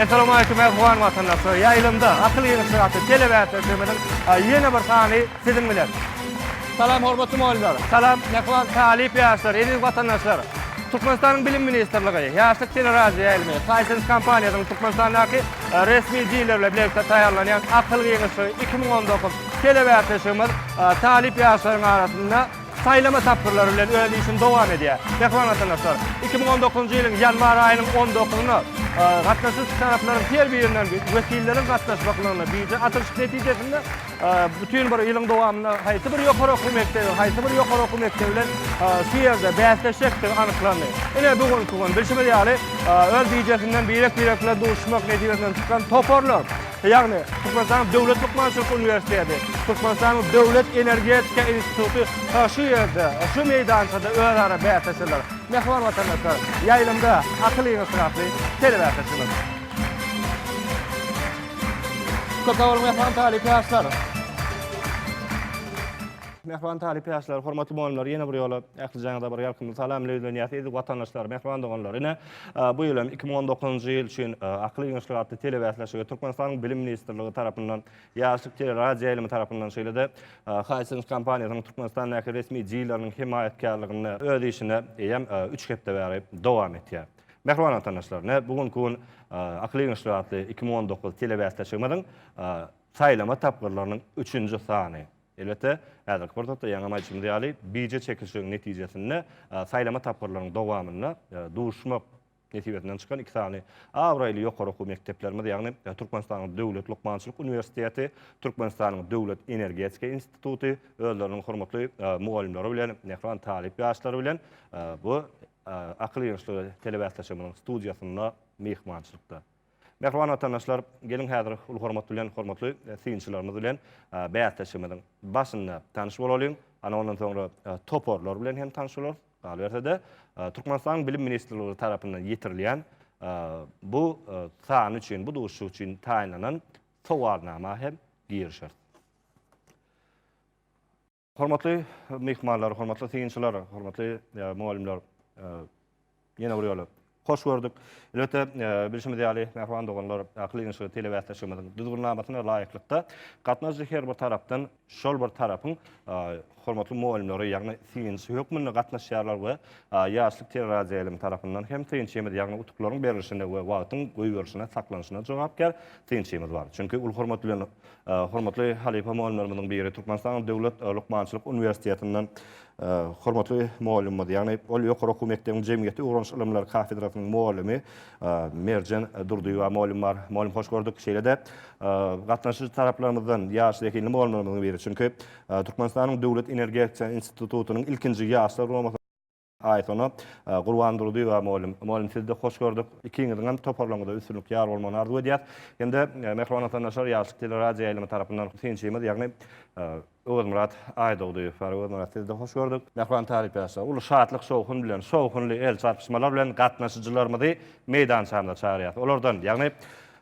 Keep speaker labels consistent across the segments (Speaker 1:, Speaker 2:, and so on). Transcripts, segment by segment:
Speaker 1: Assalamualeykum, Afgan watandaşlar. Ýaýlymda akyl ýygnaşygy atly telebäsleşigimiziň ýene bir sany Siziň bilen. Salam hormatly mugallymlar. Salam mähriban talyp ýaşlar, eziz watandaşlar. Türkmenistanyň Bilim ministrligi, Ýaşlyk teleradioýaýlymy, Hisense kompaniýasynyň Türkmenistandaky resmi dileri bilen bilelikde taýýarlanýan Akyl giňişligi iki müň on dokuz telebäsleşigimiz talyp ýaşlaryň arasynda saýlama tapgyrlary bilen öz işini dowam edýär. Mähriban watandaşlar, iki müň on dokuzynjy ýylyň ýanwar aýynyň on dokuzyna gatnaşyjy taraplaryň her birinden wekilleriň gatnaşmaklygyna bije açylyşyk netijesinde Bütin bir ýylyň dowamynda haýsy bir ýokary okuw mekdebi, haýsy bir ýokary okuw mekdebi bilen şu ýerde bäsleşjekdigi anyklandy. Ine, bu günki gün, bilşimiz ýaly, öz bijesinden birek-birek bilen duşuşmak netijesinden çykan toparlar, ýagny Türkmenistanyň Döwlet lukmançylyk uniwersiteti, Türkmenistanyň Döwlet energetika instituty şu ýerde, şu meýdançada özara bäsleşerler. Mähriban watandaşlar, ýaýlymda akyl ýygnatdy atly telebäsleşigimiz. Köp sag boluň mähriban talyp ýaşlar! Mähriban talyp ýaşlar, hormatly mugallymlar ýene bir ýola ählijaňyza bir ýalkymly salam bilen ýüzlenýäs. Eziz watandaşlar, mähriban doganlar! Ine, bu ýyl hem iki müň on dokuzynjy ýyl üçin Akyl giňişligi atly telebäsleşige Türkmenistanyň Bilim ministrligi tarapyndan, Ýaşlyk teleradioýaýlymy tarapyndan, şeýle-de Hisense kompaniýasynyň Türkmenistandaky resmi dileriniň hemaýatkärliginde öz işine eýýäm üç hepde bäri dowam etýär. Mähriban watandaşlar, ne bu günki gün Akyl giňişligi atly iki müň on dokuz telebäsleşigimiziň saýlama tapgyrlarynyň üçünji sany. Elbetde, häzirki pursatda ýaňam aýdyşymyz ýaly, bije çekilişigiň netijesinde saýlama tapgyrlarynyň dowamynda duşmak nesibesinden çykan iki sany abraýly ýokary okuw mekdeplerimiz, ýagny Türkmenistanyň Döwlet lukmançylyk uniwersiteti, Türkmenistanyň Döwlet energetika instituty özleriniň hormatly mugallymlary bilen, mähriban talyp ýaşlary bilen bu Akyl ýörüşleri telebäsleşigimiziň studiýasynda myhmançylykda. Mähriban watandaşlar, geliň häzir uly hormat bilen hormatly synçylarymyz bilen bäsleşigimiziň başynda tanyş bolalyň. Ana ondan soňra toparlar bilen hem tanyş bolarys. Galyberse-de, Türkmenistanyň Bilim ministrligi tarapyndan ýetirilýän bu sany üçin, bu duşuşyk üçin taýynlanan sowalnama hem girişeris. Hormatly myhmanlar, hormatly synçylar, hormatly mugallymlar, ýene bir ýola hoş gördük. Elbetde, bilşimiz ýaly, mähriban doganlar, Akyl ýygynyşygy telebäsleşigimiziň düzgünnamasyna laýyklykda gatnaşyjy her bir tarapdan şol bir tarapyň hormatly mugallymlary, ýagny synçy hökmünde gatnaşýarlar we ýaşlyk teleradioýaýlymy tarapyndan hem synçymyz, ýagny utuklaryň berlişine we wagtyň goýberişine, saklanyşyna jogapkär synçymyz bar. Çünki ol hormat bilen Hormatly halypa mugallymlarymyzyň biri, Türkmenistanyň Döwlet lukmançylyk uniwersitetinden hormatly mugallymymyz, ýagny ol ýokary okuw mekdebiň jemgyýeti ugranyş ylymlary kafedrasynyň mugallymy Merjen Durdyýewa mugallym bar. Mugallym hoş gördük. Şeýle-de gatnaşyjy taraplarymyzdan ýaş zehinli mugallymlarymyzyň biri, çünki Türkmenistanyň Döwlet energetika institutynyň ilkinji ýaşlar guramasy, Aýsona, Gurban Durdyýewa mugallym. Mugallym sizi-de hoş gördük. Ikiňiziňem toparlaryňyza üstünlik ýar bolmagyny arzuw edýäs. Hem-de mähriban watandaşlar Ýaşlyk teleradioýaýlymy tarapyndan synçymyz, ýagny Öwezmyrat Aýdogdyýew bar. Öwezmyrat sizi-de hoş gördük. Mähriban talypýaşlar, uly şatlyk-şowhun bilen, şowhunly el çarpyşmalar bilen gatnaşyjylarymyzy meýdançamyza çagyrýas. Olardan, ýagny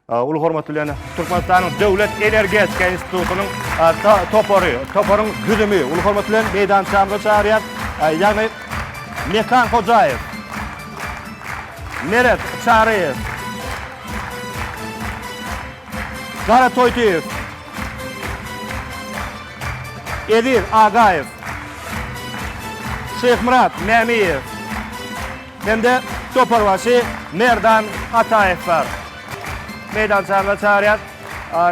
Speaker 1: Uly hormat bilen Türkmenistanyň Döwlet energetika institutynyň topary, toparyň düzümi uly hormat bilen meýdançamyza çagyrýar. Ýagny Mekan Hojaýew, Meret Çaryýew, Gara Toýtyýew, Eziz Agaýew, Şyhmyrat Mämiýew, hem-de toparbaşy Merdan Ataýew bar. Meýdançaňyza çagyrýas.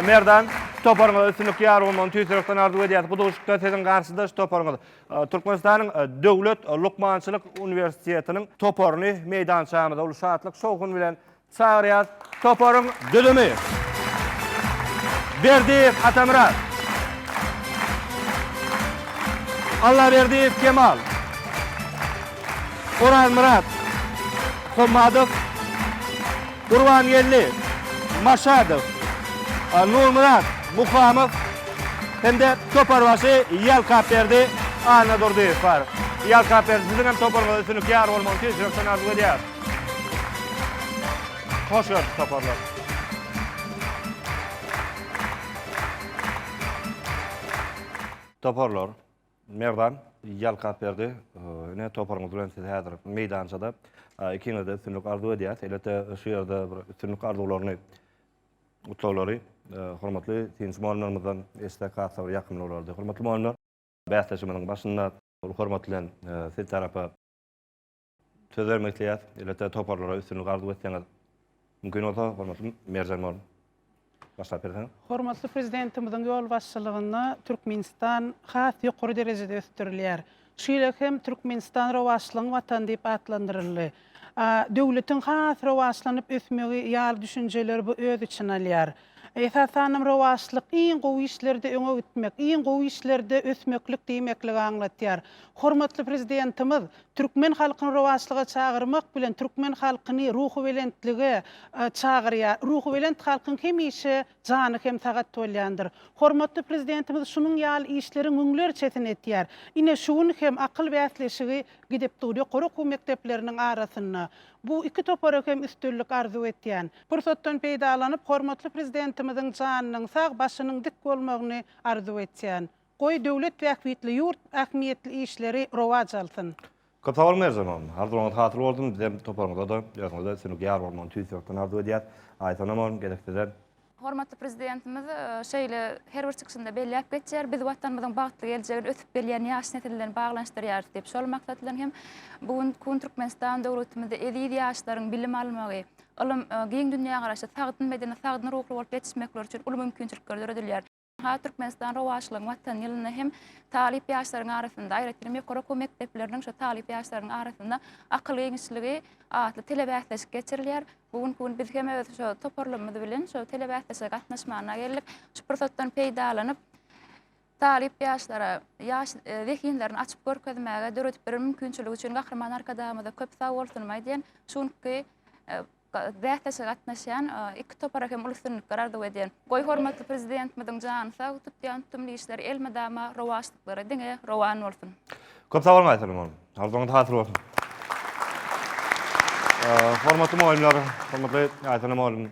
Speaker 1: Merdan, toparyňa üstünlik, ýar bolmagyny tüýs ýürekden arzuw edýäs. Bu duşuşykda siziň garşydaş toparyňyz Türkmenistanyň Döwlet lukmançylyk uniwersitetiniň toparyny meýdançamyza uly şatlyk, şowhun bilen Çagyrýas toparyň düzümi. Berdiýew Atamyrat. Allaberdiýew Kemal. Orazmyrat. Hommadow. Gurbangeldi. Maşadow. Nurmyrat Muhamow hem-de toparbaşy Ýalkapberdi Annadurdyýew bar. Ýalkapberdi siziň hem toparyňyza üstünlik ýar bolmagyny tüýs ýürekden arzuw edýäris. Hoş geldik toparlar. Toparlar. Merdan ýalkap berdi. Ine toparyňyz bilen siz häzir meýdançada. Ikiňizde üstünlik arzuw edýäs. Elbetde şu ýerde bir üstünlik arzuwlaryny gutlaglary hormatly synçy mugallymlarymyzdan eşitsek has-da bir ýakymly bolardy. Hormatly mugallymlar, bäsleşigimiziň başynda uly hormat bilen siz tarapa Söz bermek isleýäs. Elbetde toparlara üstünlik arzuw etseňiz. Mümkin bolsa, hormatly merjen boluň. Başlap berseňiz. Hormatly Prezidentimiziň ýolbaşçylygynda Türkmenistan has ýokary derejede ösdürilýär. Şu ýyl hem Türkmenistan rowaçlygyň watany diýip atlandyryldy. Döwletiň has rowaçlanyp ösmegi ýaly düşünjeler bu öz içine alýar. Esasanam rowaçlyk, iň gowy işlerde öňe gitmek, iň gowy işlerde ösmeklik diýmekligi aňlatýar. Hormatly Prezidentimiz türkmen halkyny rowaçlyga çagyrmak bilen, türkmen halkyny ruhubelentlige çagyrýar. Ruhubelent halkyň hemişe jany hem sagat bolýandyr. Hormatly Prezidentimiz şunuň ýaly işleriň müňlerçesini etýär. Ine, şu gün hem akyl bäsleşigi gidip dur ýokary okuw mekdepleriniň arasynda. Bu iki topara hem üstünlik arzuw etýän. Pursatdan peýdalanyp, hormatly Prezidentimiziň janynyň sag, başynyň dik bolmagyny arzuw etýän. Goý, döwlet bähbitli, ýurt ähmiýetli işleri rowaç alsyn! Köp sag boluň Merjen oglan. Arzuwlaryňyz hasyl bolsun, bizem toparyňyza-da, özüňize-de üstünlik ýar bolmagyny tüýs ýürekden arzuw edýäs. Aýsonam oglan, gezek size. Hormatly Prezidentimiz şeýle her bir çykyşynda belläp geçýär, biz Watanymyzyň bagtly geljegini ösüp gelýän ýaş nesil bilen baglanyşdyrýarys diýip, şol maksat bilen hem bu gün Kun Türkmenistan döwletimizde eziz ýaşlaryň bilim almagy, ylym, giň dünýägaraşy, sagdyn bedeni, sagdyn ruhly bolup ýetişmekleri üçin uly mümkinçilikler döredilýär. Has Türkmenistan rowaçlygyň Watany ýylynda hem talyp ýaşlaryň arasynda, aýratynam ýokary okuw mekdepleriniň şu talyp ýaşlarynyň arasynda akyl giňişligi atly telebäsleşik geçirilýär. Bu günki gün biz hem öz şu toparlarymyz bilen şu telebäsleşige gatnaşmagyna geldik. Şu pursatdan peýdalanyp, talyp ýaşlara ýaş e, zehinlerini açyp görkezmäge döredip beren mümkinçiligi üçin Gahryman Arkadagymyza köp sag bolsunymy aýdýan. Şu günki e, bäsleşige gatnaşýan iki topara hem uly üstünlikler arzuw edýän. Goý hormatly Prezidentimiziň jany sag, tutýan tutumly işleri elmydama, rowaçlyklary diňe rowan bolsun! Köp sag boluň Aýsalim hanym. Arzuwyňyz hasyl bolsun. Hormatly mugallymlar, hormatly Aýsana mugallym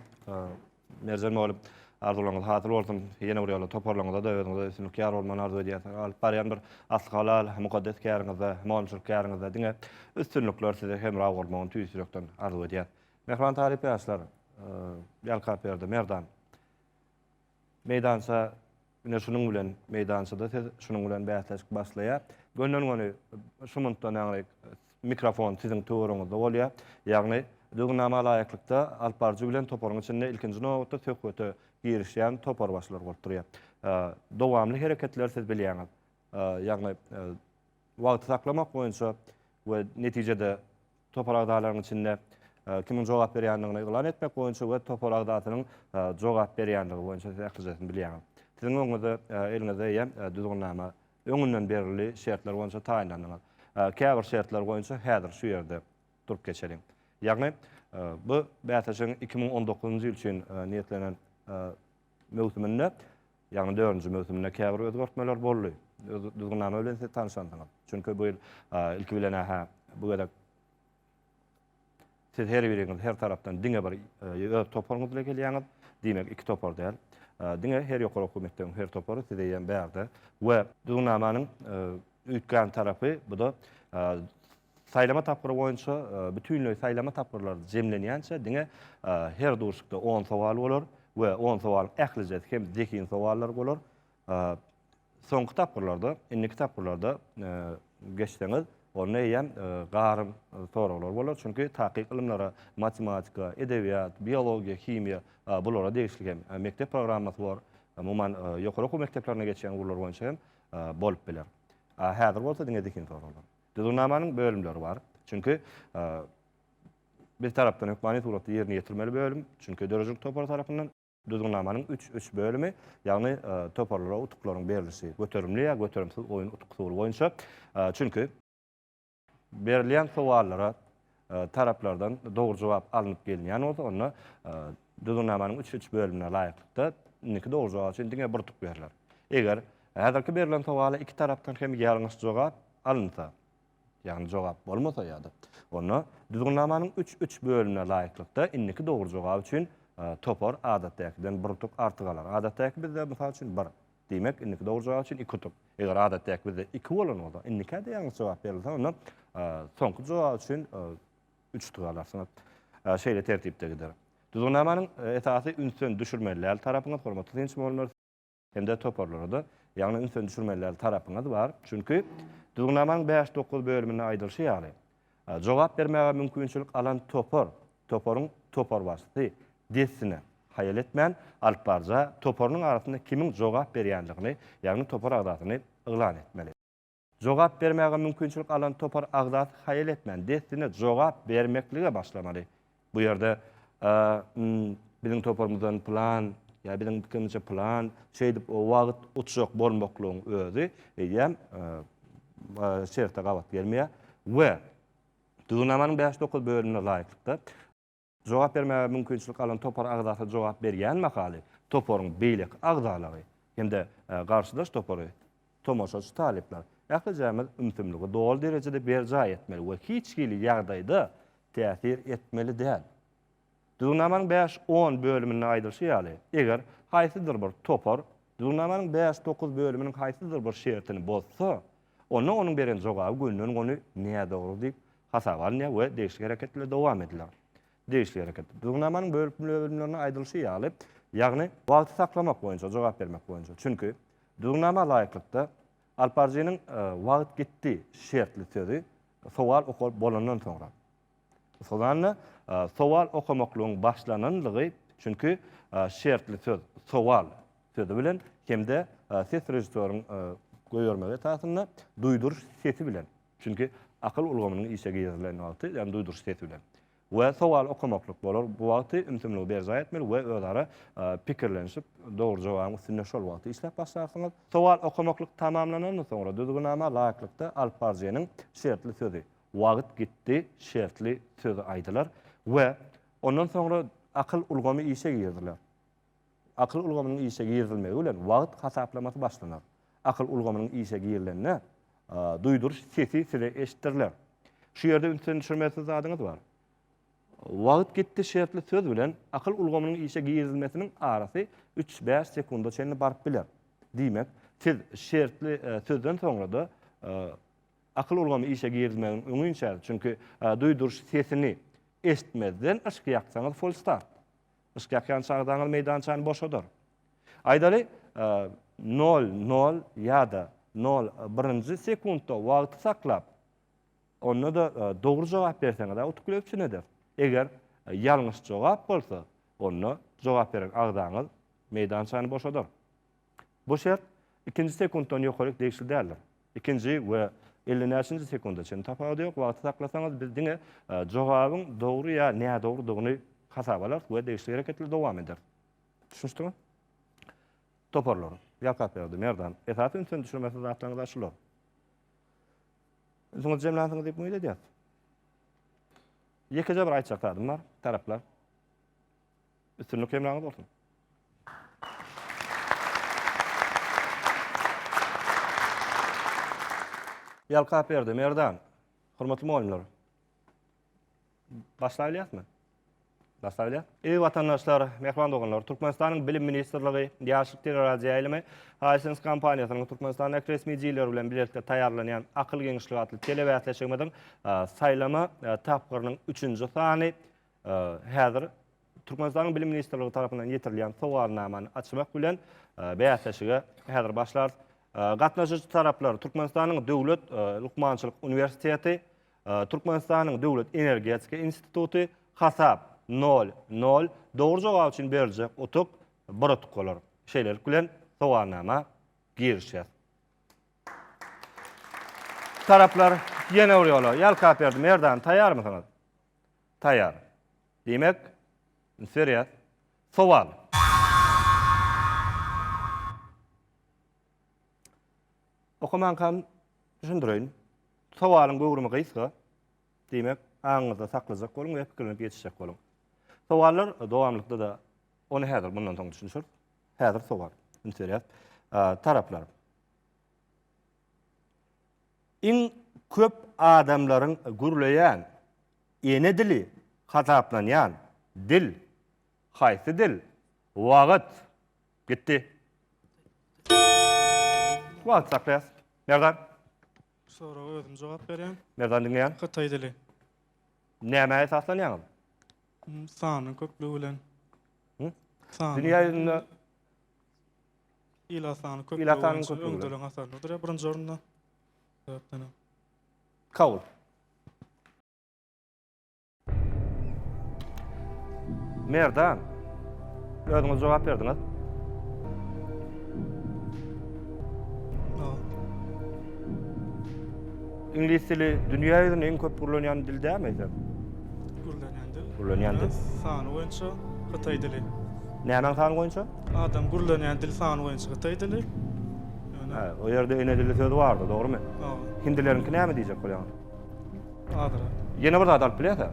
Speaker 1: Merjen mugallym arzuwlaryňyz hasyl bolsun ýene bir ýola toparlaryňyzada özüňize üstünlik ýar bolmagyny arzuw edýäs alyp barýan bir asly halal mukaddes käriňizde mugallymçylyk käriňizde diňe üstünlikler size hemra bolmagyny tüýs ýürekden arzuw edýäs mähriban talyp ýaşlar Ýalkapberdi Merdan meýdança Ine şunuň bilen meýdançada siz şunuň bilen bäsleşik başlaýar. Gönden-göni şu mundan aňry mikrofon siziň töweriňizde bolýar. Ýagny düzgünnama laýyklykda alypbaryjy bilen toparyň içinde ilkinji nobatda söhbete girişýän toparbaşylar bolup durýar. Dowamly hereketleri siz bilýäňiz. Ýagny wagty saklamak boýunça we netijede topar agzalarynyň içinde kimiň jogap berýändigini yglan etmek boýunça we topar agzasynyň jogap berýändigi boýunça siz ählijesini bilýäňiz. Siziň öňüňizde, eliňizde eýýäm düzgünnama öňünden berildi, şertler boýunça taýynlandyňyz. Käbir şertler boýunça häzir şu ýerde durup geçeliň. Ýagny, bu bäsleşigiň iki müň on dokuzynjy ýyl üçin niýetlenen möwsüminde Ýaňy dördünji möwsüminde käbir özgertmeler boldy. Öz düzgünnama bilen siz tanyşandyňyz. Çünki bu ýyl ilki bilen-ä bu gezek siz her biriňiz her tarapdan diňe bir öz toparyňyz bilen gelýäňiz. Diýmek, iki topar däl. Diňe her ýokary okuw mekdebiň her topary size ýem bärde we düzgünnamanyň üýtgän tarapy bu-da Saýlama tapgyry boýunça bütinleý saýlama tapgyrlary jemlenýänçä diňe her duşikde on sowal bolar we on sowalyň ählijesi hem zehin sowallar bolar. Soňky tapgyrlarda, indiki tapgyrlarda geçseňiz, onda eýýäm garym soraglar bolar, çünki takyk ylymlara, matematika, edebiýat, biologiýa, himiýa, bulara degişli hem mekdep programmasy bor. Umuman, ýokary okuw mekdeplerine geçýän ugurlar boýunça hem bolup biler. Häzir bolsa diňe zehin soraglar. Düzgünnamanyň bölümleri bar. Çünki bir tarapdan hökmany suratda ýerine ýetirmeli bölüm, çünki döredijilik topary tarapyndan Düzgünnamanyň üç üç bölümi, ýagny e, toparlara utuklaryň berlişi, göterimli ýa göterimsiz oýun utuk usuly boýunça. E, çünki berilýän sowallara taraplardan dogry jogap alnyp gelinýän bolsa, onda düzgünnamanyň üç üç bölümine laýyklykda indiki dogry jogap üçin diňe bir utuk berler. Eger häzirki berlen sowala iki tarapdan hem ýalňyş jogap alynsa, ýagny jogap bolmasa ýa-da, onda düzgünnamanyň üç üç bölümine laýyklykda indiki dogry jogap üçin topar adatdäkiden bir utuk artyk alar. Adatdäki bizde, mysal üçin, bir. Diýmek, indiki dogry jogap üçin iki utuk. Eger adatdaky bizde iki bolan bolsa, indikä-de ýalňyş jogap berilse, onda soňky jogap üçin üç utuk alarsyňyz. Şeýle tertipde gider. Düzgünnamanyň esasy ünsden düşürmelidäl tarapyňyz, hormatly synçy mugallymlar, hem-de toparlara-da, ýagny ünsden düşürmelidäl tarapyňyz bar. Çünki Düzgünnamanyň bäş, dokuz bölüminde aýdylyşy ýaly, Jogap bermäge mümkinçilik alan topar, toparyň toparbaşysy dessine haýal etmän, alyp baryja toparynyň arasynda kimiň jogap berýändigini, ýagny topar agzasyny yglan etmeli. Jogap bermäge mümkinçilik alan topar agzasy haýal etmän, dessine jogap bermeklige başlamaly. Bu ýerde m biziň toparymyzdan plan ýa biziň pikirimizçe plan şeýdip o wagt utjak bolmaklygyň özi eýýäm şerte gabat gelmeýär we Düzgünnamanyň bäş dokuz bölümine laýyklykda, jogap bermäge mümkinçilik alan topar agzasy jogap berýän mahaly toparyň beýleki agzalary hem-de garşydaş topary Tomaşaçy talyplar, ählijämiz ümsümligi doly derejede berjaý etmeli we hiç hili ýagdaýda täsir etmeli däl. Düzgünnamanyň bäş, on bölüminde aýdylyşy ýaly, eger haýsydyr bir topar Düzgünnamanyň bäş, dokuz bölüminiň haýsydyr bir şertini bozsa, onda onuň beren jogaby gönden-göni nädogry diýip hasaba alynýar we degişli hereketler dowam ediler. Degişli hereket. Düzgünnamanyň bölümlerinde aýdylyşy ýaly, ýagny wagty saklamak boýunça jogap bermek boýunça. Çünki, düzgünnama laýyklykda, alparjynyň Wagt gitdi şertli sözi sowal okalyp bolandan soňra. Sozanda sowal okamaklygyň başlananlygy, çünki şertli söz sowal sözi bilen hem-de ses režissýoryň goýbermegi esasynda duýduryş sesi bilen, Çünki akyl ulgamynyň işe girizilen wagty, ýagny duýduryş sesi bilen. We sowal okamaklyk bolar, bu wagty ümsümligi berjaý etmeli we özara pikirlenişip, dogry jogabyň üstünde şol wagty işläp başlarsyňyz. Sowal okamaklyk tamamlanandan soňra düzgünama laýyklykda alyp baryjynyň şertli sözi, Wagyt gitdi, şertli sözi aýdylar we ondan soňra akyl ulgamy işe giriziler. Akyl ulgamynyň işe girizilmegi bilen wagt hasaplamasy başlanar. Akyl ulgamynyň işe girilende duýduryş sesi size eşitdiriler. Şu ýerde ünsden düşürmezsiz zadyňyz bar. Wagt gitdi şertli söz bilen akyl ulgamynyň işe girizilmesiniň arasy üç-bäş sekunda çenli baryp biler. Diýmek, siz şertli sözden soňra-da akyl ulgamy işe girizilmegiň öňinçäsiz, çünki duýduryş sesini eşitmezden yşk ýaksaňyz folstart. Yşk ýakýan çagdaňyz meýdançany boşadar. Aýdaly, nol, nol ýa-da nol birinji sekuntda wagty saklap, onda-da dogry jogap berseňiz-ä utukly üpjün eder. Eger ýalňyş jogap bolsa, onda jogap beren agzaňyz meýdançany boşadar. Bu şert ikinji sekuntdan ýokaryk degişli däldir. Ikinji we elli näçinji sekunda çenli tapawudy ýok, wagty saklasaňyz biz diňe jogabyň dogry ýa nädogrydygyny hasaba alarys we degişli hereketleri dowam ederis. Düşünişdimi? Toparlar. Ýalkapberdi, Merdan. Esasy ünsüni düşürmesi zatlaryňyz-a şular. Ünsüňizi jemlänsiňiz diýip umyt edýäs. Ýekeje bir aýtjak zadym bar, taraplar. Üstünlik hemraňyz bolsun. Ýalkap berdi, Merdan. Hormatly mugallymlar. Başlaýylýasmy? Başlaýylýa. Eý watandaşlar, mähriban doganlar, Türkmenistanyň Bilim ministrligi, Ýaşlyk teleradioýaýlymy, Hisense kompaniýasynyň Türkmenistandaky resmijileri bilen bilelikde taýýarlanýan Akyl geňişligi atly telebäsleşigimiziň saýlama tapgyrynyň üçünji sany Häzir Türkmenistanyň Bilim ministrligi tarapyndan ýetirilýän sowalnamany açmak bilen bäsleşige häzir başlarys. Gatnaşyjy taraplar Türkmenistanyň Döwlet lukmançylyk uniwersiteti, Türkmenistanyň Döwlet energetika instituty, hasap nol, nol, dogry jogap üçin beriljek utuk bir utuk bolar. Şeýlelik bilen sowalnama girişýär. Taraplar ýene bir ýola, Ýalkapberdi Merdan, taýýarmysyňyz? Taýýar. Diýmek, üns berýäs. Sowal. Okamaňkam düşündireýin. Sowalyň göwrümi gysga. Diýmek, aňyňyzda saklajak boluň we pikirlenip ýetişjek boluň. Sowallar dowamlykda-da, ony häzir mundan soň düşünişeris. Häzir sowal. Üns berýäs. Taraplar. iň köp adamlaryň gürleýän ene dili hasaplanýan dil haýsy dil? Wagt gitdi. Wagt saklaýas. Merdan. Bu soraga özüm jogap berýän. Merdan diňleýän. Hytaý dili. Nämä esaslanýaňyz? Sanyň köplügi bilen. Dünýä ýüzünde Ilatanyň köplügi Ilatanyň boýunça köplügi bilen. öňdeleriň hatarynda durýar birinji orunda. Sebäpden hem. Kabul. Merdan. Özüňiz jogap berdiňiz. Aw. Iňlis dili dünýä ýüzünde iň köp gürlenýän dil dälmi eýsem? Gürlenýän dil. Gürlenýän dil. Sany boýunça hytaý dili. Nämäň sany boýunça? Adam gürlenýän dil sany boýunça hytaý dili. Hä, o ýerde ene dili sözi bardy, dogrumy? Hawa. Hindileriňki näme diýjek bolýaň? Adyra. Ýene bir zat alyp bilýärsiň.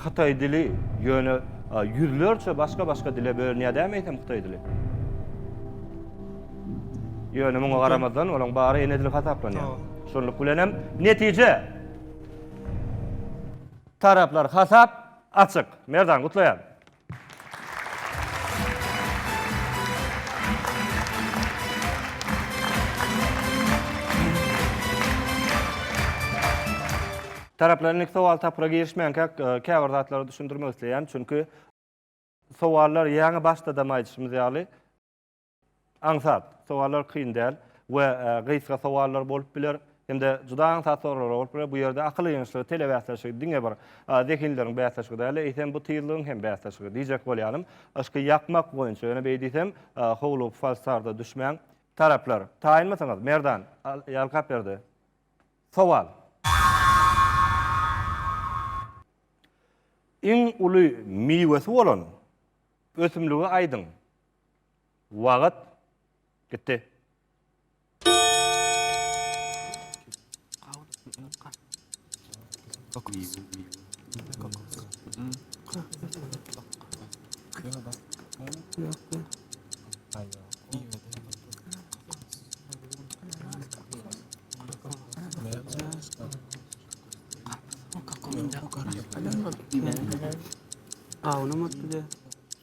Speaker 1: Hytaý dili ýöne ýüzlerçe başga-başga dile bölünýär dämi eýsem hytaý dili? Ýöne muňa garamazdan olaň bary enedil hasaplanýar. Şunluk bilen hem netije taraplar hasap açyk. Merdan gutlaýan. Taraplar indiki sowal tapgyra girişmänkä käbir zatlary düşündirmek isleýän. Çünki sowallar ýaňy başda dam aýdyşymyz ýaly Aňsat sowallar kyn däl we gysga sowallar bolup biler, hem-de juda aňsat soraglar bolup biler. Bu ýerde akyl ýygynyşlygy, tele bäsleşigi diňe bir zehinleriň bäsleşigi däl-de, eýsem bu tyzlygyň hem bäsleşigi diýjek bolýanym. Yşky ýakmak boýunça, ýöne beý diýsem, howlugyp falstarda düşmäň. Taraplar, taýynmysyňyz? Merdan ýalkap berdi. Sowal. Iň uly miwesi bolan ösümligi aýdyň. Wagyt gitdi. Awunam otdy.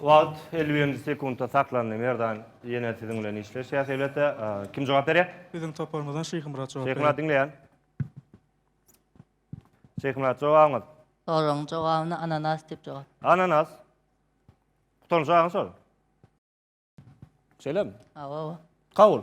Speaker 1: Wagt elli birinji sekuntda saklandy Merdan ýene siziň bilen işleşýäs elbetde kim jogap berýär? Biziň toparymyzdan Şyhymyrat jogap berýär. Şyhymyrat diňleýän. Şyhymyrat jogabyňyz. Soragyň jogabyna ananas diýip jogap. Ananas. Gutaryn şagyň şol. Şeýlemi? Hawa. Kabul.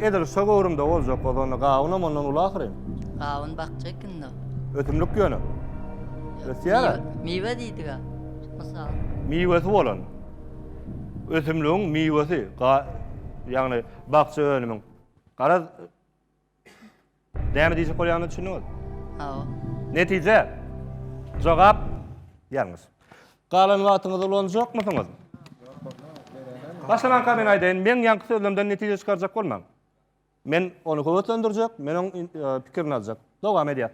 Speaker 1: Edil şo göwrümde boljak ozany gawunam ondan uly ahyryn. Gawun bakja ekindi. Ösümlik ýöne. Ösýär-ä. Miwe diýdiga. Mysal. Miwesi bolan. Ösümligiň miwesi. Ýagny bakja önümiň. Garaz Näme diýjek bolýanyna düşündiňiz? Hawa. Netije. Jogap ýalňyş. Galan wagtyňyzy ulanjakmysyňyz? Başlamanka men aýdaýyn, meň ýaňky sözlerimden netije çykarjak bolmaň. Men ony höweslendirjek, men oň pikirini aljak. Dowam edýär.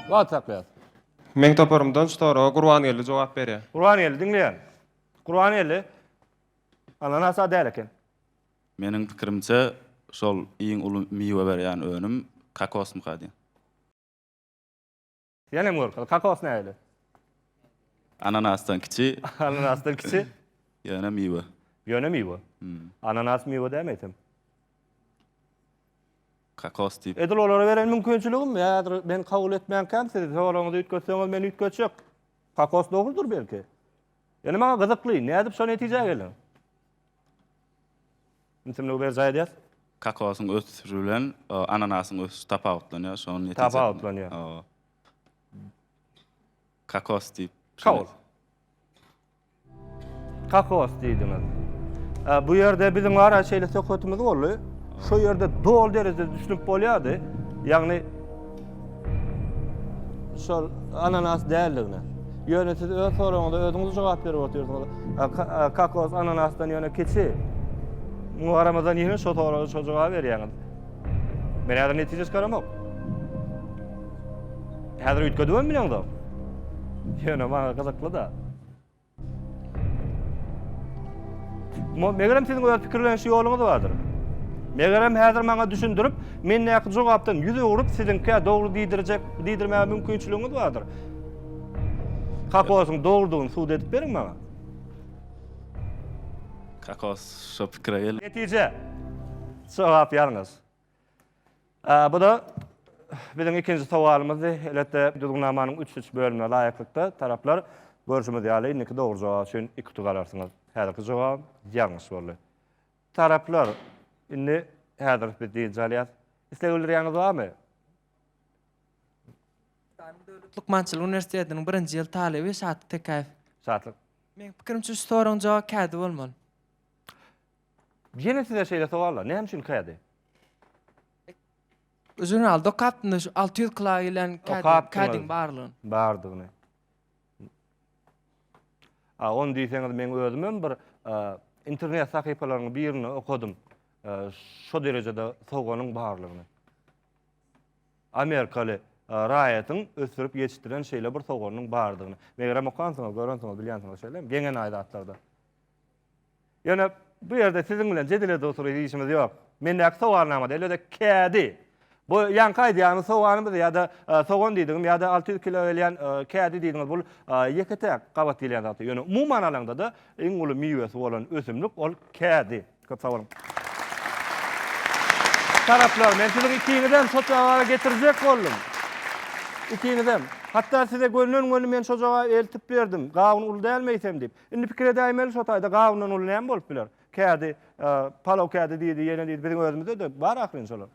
Speaker 1: Wagt saklaýas. Meň toparymdan şu soraga Gurbangeldi jogap berýär. Gurbangeldi diňleýän. Gurbangeldi, Ananasa däl eken. Meniň pikirimçe şol iň uly miwe berýän önüm kokosmyka diýýän. Ýenem görkezdi. Kokos nähili? Ananasdan kiçi. Ananasdan kiçi. Ýöne miwe. Ýöne miwe. Ananas miwe dämi eýsem? Kokos diýip. Edil olara beren mümkinçiligim häzir men kabul etmänkäm siz soragyňyzy üýtgetseňiz men üýtgetjek. Kokos dogrudyr belki. Ýöne maňa gyzykly, nädip şo netijä geldiň? Ümsümligi berjaý edýäs. Kakaosyň ösüşi bilen ananasyň ösüşi tapawutlanýar, şonuň netijesinde. Tapawutlanýar. Hawa. Kakos diýip. Kabul. Kakos diýdiňiz. Bu ýerde biziň ara şeýle söhbetimiz boldy. Şo ýerde doly derejede düşünip bolýardy. Ýagny Şol ananas däldigine. Ýöne siz öz soragyňyza özüňiz jogap berip otyrsyňyz. Kakos ananasdan ýöne kiçi. Muňa garamazdan ýene şo soraga şo jogap berýäňiz. Men häzir netije çykaramok. Häzir üýtgedibem bileňzok. Ýöne maňa gyzykly-da. Megerem siziň öz pikirleniş ýoluňyz bardyr. Megerem häzir maňa düşündirip, mendäki jogapdan ýüz öwrüp, siziňkä dogry diýdirjek, diýdirmäge mümkinçiligiňiz bardyr. Kokosyň dogrudygyny subut edip beriň maňa. Kokos şo pikire geldi. Netije. Jogap ýalňyş. Bu-da biziň ikinji sowalymyzdy. Elbetde, düzgünnamanyň üç üç bölümine laýyklykda taraplar, görşümiz ýaly, indiki dogry jogap üçin iki utuk alarsyňyz. Häzirki jogabym ýalňyş boldy. Taraplar, indi häzir biz dynç alýas. Isleg bildirýäňiz barmy? Daşary döwlet lukmançylyk uniwersitetiniň birinji ýyl talyby Şatlyk Tekäýew. Şatlyk. Meň pikirimçe, şu soragyň jogaby kädi bolmaly. Jene size şeýle sowallar, näme üçin kädi? Žurnalda okapdym-da şu alty ýüz kla gelen kädi, Okapdyňyz. kädiň barlygyny. bardygyny. A, ony diýseňiz meň özümem bir e, internet sahypalarynyň birinde okadym. E, Şo derejede sowganyň barlygyny. Amerikaly e, raýatyň ösdürip ýetişdiren şeýle bir sowganynyň bardygyny. Megerem okansyňyz, görensiňiz, bilýänsiňiz şeýlemi? Geňenaý zatlarda. Ýöne bu ýerde siziň bilen jedel edip oturyp işimiz ýok. Mendäki sowalnamada elbede kädi. Bu ýaňky aýdýanyňyz soganymyz ýa-da sogan diýdigim ýa-da alty ýüz kilo gelýän kädi diýdiňiz bul ýeke-täk gabat gelýän zat. Ýöne umuman alaňda-da iň uly miwesi bolan ösümlik ol kädi. Köp sag boluň. Taraplar, men siziň ikiňizem şo jogaba getirjek boldum. Ikiňizem. Hatda size gönden-göni men şo jogaby eltip berdim. Gawun uly dälmi eýsem diýip. Indi pikir edäýmeli şo taýda gawundan uly näme bolup biler? Kädi palaw kädi diýdi, ýene diýdi, biziň özümizde-de bar ahyryn şolar.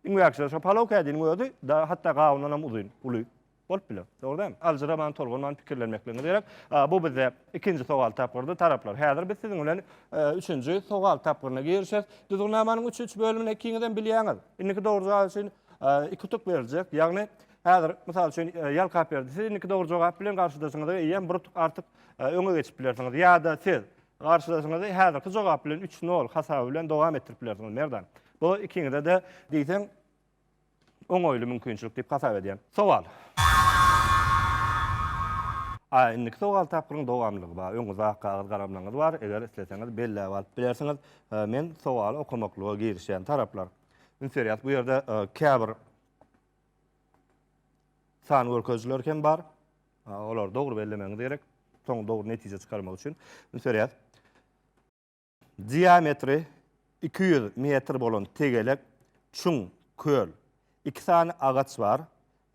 Speaker 1: Iň wäkisi şo palaw kädiniň özi da hatda gawundan hem uzyn, uly bolup biler. Dogry dälmi? Aljyraman, tolgunman pikirlenmekligiňiz gerek. Bu bizde ikinji sowal tapgyrdy, taraplar. Häzir biz siziň bilen üçünji sowal tapgyryna girişeris. Düzgünnamanyň üç üç bölümini ikiňizem bilýäňiz. Indiki dogry jogap üçin iki utuk beriljek. Ýagny häzir mysal üçin Ýalkaberdi siz indiki dogry jogap bilen garşydaşyňyza eýýäm bir utuk artyk öňe geçip bilersiňiz ýa-da siz garşydaşyňyzy häzirki jogap bilen üç nol hasaby bilen dowam etdirip bilersiňiz, Merdan. Bu ikiňize-de diýseň oňaýly mümkinçilik diýip hasap edýän. Sowal. A indiki sowal tapgyryň dowamlygy bar. Öň uzak kagyz galamlaňyz bar, eger isleseňiz belläp alyp bilersiňiz. Men sowaly okamaklyga girişýän taraplar. Üns berýäs, bu ýerde käbir San görkezijiler hem bar. Olary dogry bellemegiňiz gerek. Soň dogry netije çykarmak üçin. Indi söreýäs. Diametri 200 metr bolan tegelek, çuň, köl. Iki sany agaç bar.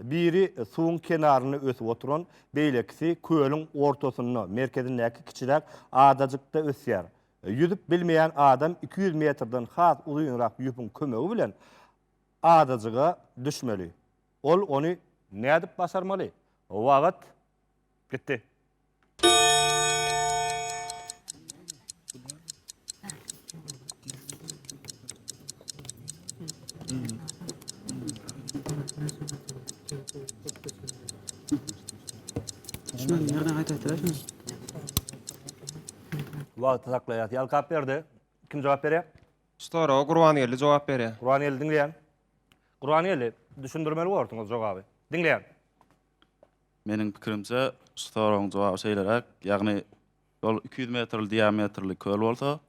Speaker 1: Biri suwuň kenarynda ösüp oturan, beýlekisi kölüň ortasynda, merkezindäki kiçiräk adajykda ösýär. Ýüzüp bilmeýän adam 200 metrden has uzynrak ýüpüň kömegi bilen Adajyga düşmeli. Ol ony nädip başarmaly? Wagt gitdi. Wagty saklaýas. Ýalkap berdi. Kim jogap berýär? Soraga Gurbangeldi jogap berýär. Gurbangeldi diňleýän. Gurbangeldi, düşündirmeli bolarsyňyz jogaby. Diňleýän. Meniň pikirimçe, şu soragyň jogaby şeýleräk, ýagny ýol iki ýüz metrli diametrli köl bolsa,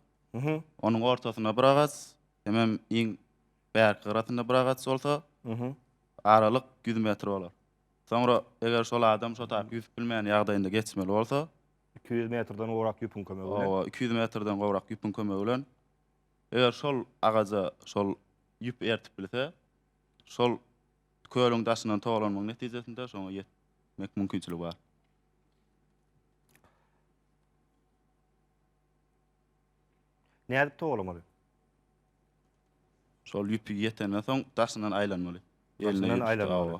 Speaker 1: onuň ortasynda bir agaç, hemem iň bärki gyrasynda bir agaç bolsa, aralyk ýüz metr bolar. Soňra eger şol adam şo taýyp ýüzüp bilmeýän ýagdaýynda geçmeli bolsa, Iki ýüz metrden gowrak ýüpüň kömegi bilen. Hawa, iki ýüz metrden gowrak ýüpüň kömegi bilen. Eger şol agaja şol ýüp ertip bilse, şol kölüň daşyndan togalanmagyň netijesinde şoňa ýetmek mümkinçiligi bar. Nädip togalamaly? Şol ýüpi ýetenden soň daşyndan aýlanmaly. Daşyndan aýlanmaly.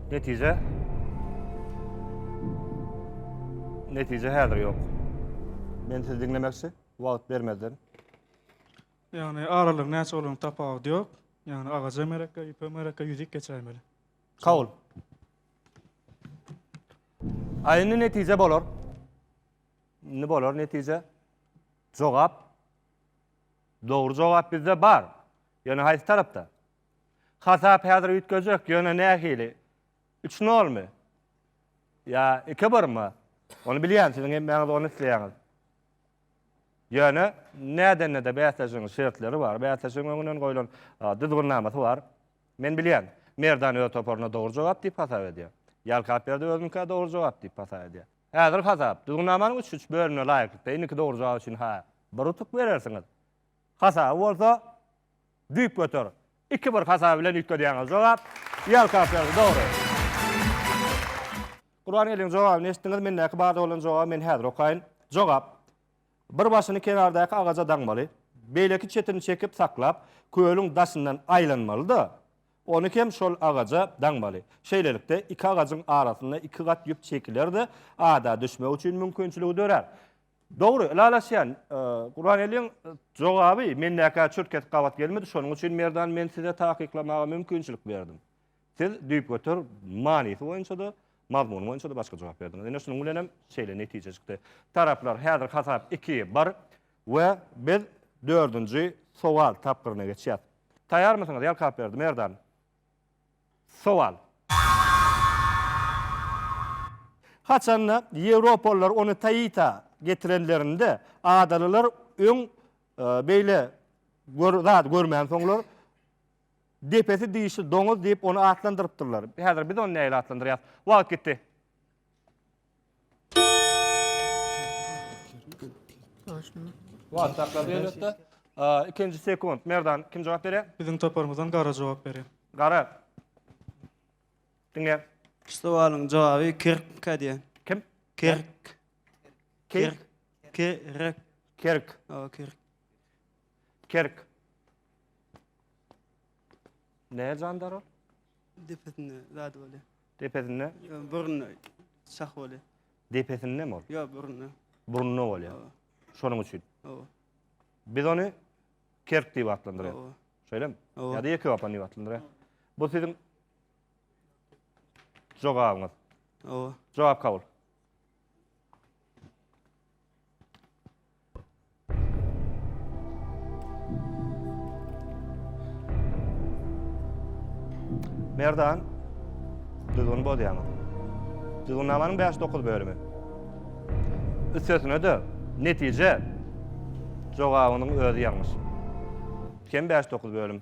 Speaker 1: Netije? Netije häzir ýok. Men sizi diňlemekçi, wagt bermezden. Ýagny aralygyň näçe bolany tapawudy ýok. Ýagny agaja mereke, ýüpe mereke ýüzük geçäýmeli. Kabul. A indi netije bolar. Indi bolar netije. Jogap. Dogry jogap bizde bar. Ýöne haýsy tarapda? Hasap häzir üýtgejek, ýöne nähili? Üç nolmy? Ýa iki birmi? Ony bilýän, siziň hemmäňiz ony isleýäňiz. Ýöne nädende-de bäsleşigiň şertleri bar, bäsleşigiň öňünden goýlan düzgünnamasy bar. Men bilýän, Merdan öz toparyna dogry jogap diýip hasap edýär. Ýalkapberdi özünikä dogry jogap diýip hasap edýär. Häzir hasap, düzgünnamanyň üç-üç bölümine laýyklykda indiki dogry jogap üçin-hä bir utuk berersiňiz. Hasaby bolsa Düýp göter. Iki bir hasaby bilen üýtgedýäňiz. Jogap Ýalkaw berdi. Dogry. Gurbangeldiň jogabyny eşitdiňiz. Mendäki barda bolan jogaby men häzir okaýyn. Jogap. Bir başyny kenardaky agaja daňmaly. Beýleki çetini çekip saklap, kölüň daşyndan aýlanmaly-da, ony hem şol agaja daňmaly. Şeýlelikde, iki agajyň arasynda iki gat ýüp çekiler-de, ada düşmek üçin mümkinçiligi dörär. Dogry, ylalaşýan. Gurbangeldiň jogaby mendäkä çürt kesip gabat gelmedi, şonuň üçin Merdan men size takyklamaga mümkinçilik berdim. Siz düýpgöter manysy boýunça-da, mazmuny boýunça-da başga jogap berdiňiz. Ine şunuň bilenem şeýle netije çykdy. Taraplar häzir hasap iki, bir we biz dördünji sowal tapgyryna geçýäs. Taýarmysyňyz Ýalkaberdi, Merdan? Sowal. Haçanda ýewropalylar ony Taita getirenlerinde, adalylar öň beýle gör zady görmänsoňlar, depesi dişli doňuz diýip ony atlandyrypdyrlar. Häzir biz ony nähili atlandyrýas? Wagt gitdi. Wagt saklap ýörüpdi. Ikinji sekund. Merdan kim jogap berýär? Biziň toparymyzdan Gara jogap berýär. Gara. Diňe. Şu sowalyň jogaby kirk diýen. Kim? Kirk. Kirk. Kirk. Kirk. Owa, kirk. Kirk. Ne jandar ol? Depesinde zady bolýar. Depesinde? Ýok, burnunda şah bolýar. Depesindemi ol? Ýok, burnunda. Burnunda bolýar. Hawa. Şonuň üçin. Hawa. Biz ony kerk diýip atlandyrýarys. Hawa. Şeýlemi? Hawa. Ýa-da ýeke wapan diýip atlandyrýarys. Bu siziň jogabyňyz. Hawa. Jogap kabul. Merdan, düzgün bozýaňyz. Düzgünnamanyň 5-9 bölümi. Üstesine-de netije jogabynyň özi ýalňyş. Kem 5-9 bölüm.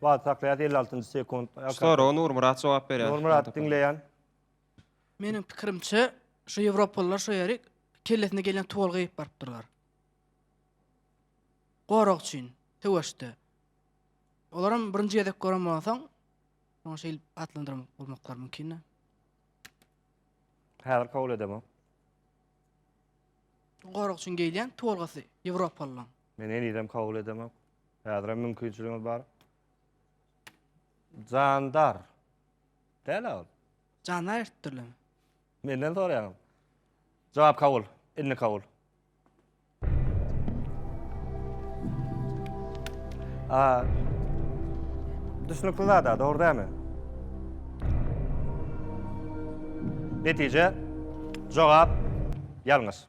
Speaker 1: Wagt saklaýas, elli altynjy sekunt. Soraga Nurmyrat jogap berýär. Nurmyrat, diňleýän. Meniň pikirimçe, şu ýewropalylar şu ýeri kellesine gelýän tuwal geýip barypdyrlar. Gorag üçin, söweşde. Olaram birinji gezek gören bolansoň, şoňa şeýle atlandyran bolmaklary mümkin-dä. Häzir kabul edemok. Gorag üçin geýilýän tolgasy ýewropalylaň. Men henizem kabul edemok. Häzirem mümkinçiligiňiz bar. Jandar. Däl-ä ol. Jandar ertdirlimi? Menden soraýaňyz. Jogap kabul. Indi kabul. A, düşünükli zada, doğru değil mi? Netice, cevap, yalnız.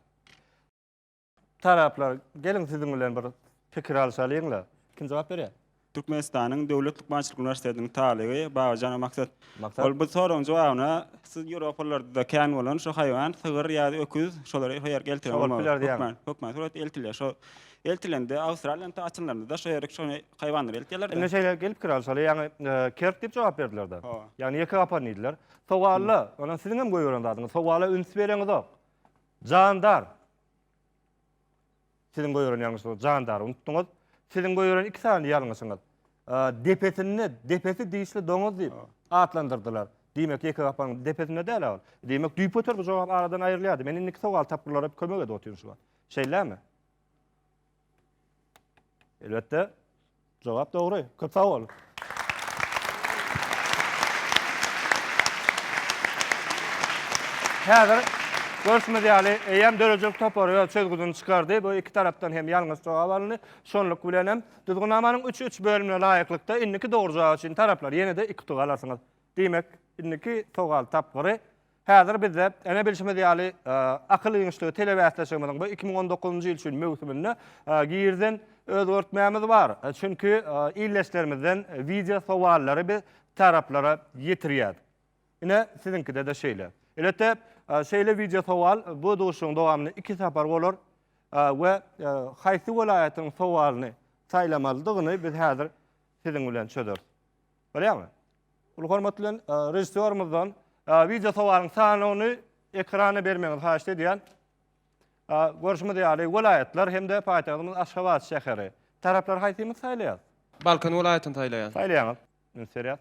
Speaker 1: Taraflar, gelin sizin bilen bir fikir alşalyň la. Kim cevap veriyor? Türkmenistanyň Döwlet lukmançylyk uniwersitetiniň talyby Babajanova Maksat. Maksat. Ol bu soragyň jogabyna siz ýewropalarda kän bolan şu haýwan, sygyr ýa-da öküz, şolary her ýerki eltiren bolmaly. Şo bolup biler diýýäňiz. Hökman, hökman surat eltilýär. Şo eltilende Awstraliýanyň ta açylanlarynda-da şo ýerki şony haýwanlary eltýärler-de. Indi şeýle gelipdir alşaly, ýagny kerp diýip jogap berdiler-de. Hawa. Ýagny ýeke gapan diýdiler. Sowala, ynha siziň hem goýberen zadyňyz, sowala üns bereňizok. Jandar. Siziň goýberen ýalňyşyňyzy jandar unutdyňyz. Siziň goýberen iki sany ýalňyşyňyz. Depesinde, depesi dişli doňuz diýip atlandyrdylar. Diýmek, ýeke gapyň depesinde däl-ä ol. Diýmek, düýpgöter bu jogap aradan aýrylýardy. Men indiki sowal tapgyrlara bir kömek edip otyryn şu wagt. Şeýlämi? Elbetde. Jogap dogry. Köp sag bol. Häzir görşümiz ýaly, eýýäm döredijilik topary öz çözgüdini çykardy. Bu iki tarapdan hem ýalňyş jogap alyndy. Şonluk bilen hem Düzgünnamanyň üç üç bölümine laýyklykda indiki dogry jogap üçin taraplar ýene-de iki utuk alarsyňyz. Diýmek, indiki sowal tapgyry Häzir bizde, ene bilşimiz ýaly, akyl giňişligi telebäsleşigimiziň bu iki müň on dokuzynjy ýyl üçin möwsüminde girden özgertmämiz bar. Çünki ildeşlerimizden wideo sowallary biz taraplara ýetirýäs. Ine, siziňkide-de şeýle. Elbetde, şeýle wideo sowal bu duşuşygyň dowamynda iki sapar bolar we haýsy welaýatyň sowalyny saýlamalydygyny biz häzir siziň bilen çözeris. Bolýamy? Uly hormat bilen režissýorymyzdan wideo sowalyň sanawyny ekrana bermegiňizi haýyşt edýän. Görşümiz ýaly, welaýatlar hem-de paýtagtymyz Aşgabat şäheri. Taraplar haýsymyz saýlaýas? Balkan welaýatyny saýlaýan. Saýlaýaňyz. Üns berýäs.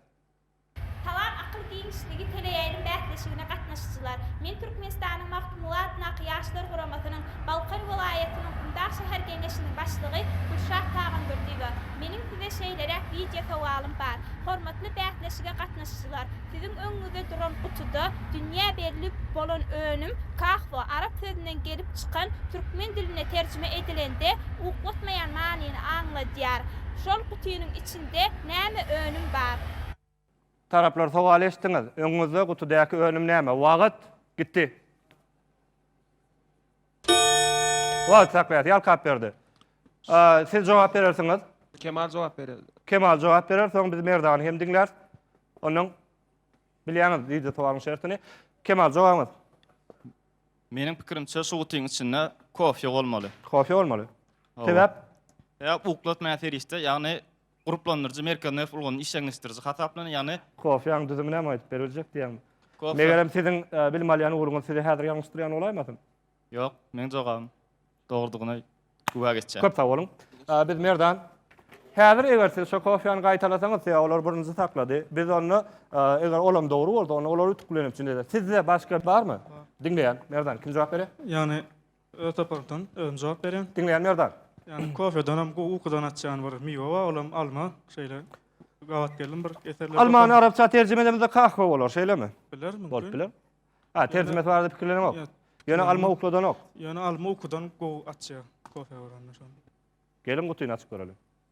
Speaker 1: Salam Akyl giňişligi teleýaýlym bäsleşigine gatnaşyjylar. Men Türkmenistanyň Magtymguly adyndaky Ýaşlar guramasynyň Balkan welaýatynyň Gumdag şäher geňeşiniň başlygy Gülşat Tagamberdiowa. Meniň size şeýleräk wideo sowalym bar. Hormatly bäsleşige gatnaşyjylar, siziň öňüňizde duran gutuda dünýä belli bolan önüm kahwa arap sözünden gelip çykan türkmen diline terjime edilende uklotmaýan manyny aňladýar. Şol gutynyň içinde näme önüm bar? Taraplar sowal eşitdiňiz. Öňüňizde gutudäki önüm näme? Wagt. Gitdi. Wagt saklayat ýalkap berdi. Siz jogap berersiňiz. Kemal jogap berer. Kemal jogap berer, soň biz Merdany hem diňläris. Ondan bilýäňiz video sowalyň şertini. Kemal jogabyňyz. Meniň pikirimçe şu gutyň içinde kofýa bolmaly. Kofýa bolmaly. Sebäp? Sebäp uklatmaýan serişde, ýagny Gruplandyryjy merkezi nerw ulgamyny işjeňleşdiriji hasaplanýar, ýagny. Kofiýaň düzümi näme aýdyp beriljek diýýäňmi? Kofýa. Megerem siziň bilim alýan ugruňyz sizi häzir ýalňyşdyrýan bolaýmasyn? Ýok, meň jogabym dogrudygyna güwä geçýär. Köp sag boluň. Biz Merdan. Häzir eger siz şo kofiýany gaýtalasaňyz, size olar birinji saklady. Biz onda eger olam dogry bolsa, onda olar ütüklenip jüneýär. Sizde başga barmy? Diňleýän. Merdan, kim jogap berýär? Ýagny. Öz tapardan özüm jogap berýän. Diňleýän Merdan. Ýani kofedanam gowy ukudan açýan bir miwe bar olam alma şeýle gabat geldim bir eserlerde. Almany arapça terjime edemizde kahwa bolar şeýlemi? Biler mümkin. Bolup biler. Ha terjimesi barada pikirlenenok. Ýöne alma ukudanok. Ýöne alma ukudan gowy açýar kofe görende şony. Geliň gutyny açyp göreliň.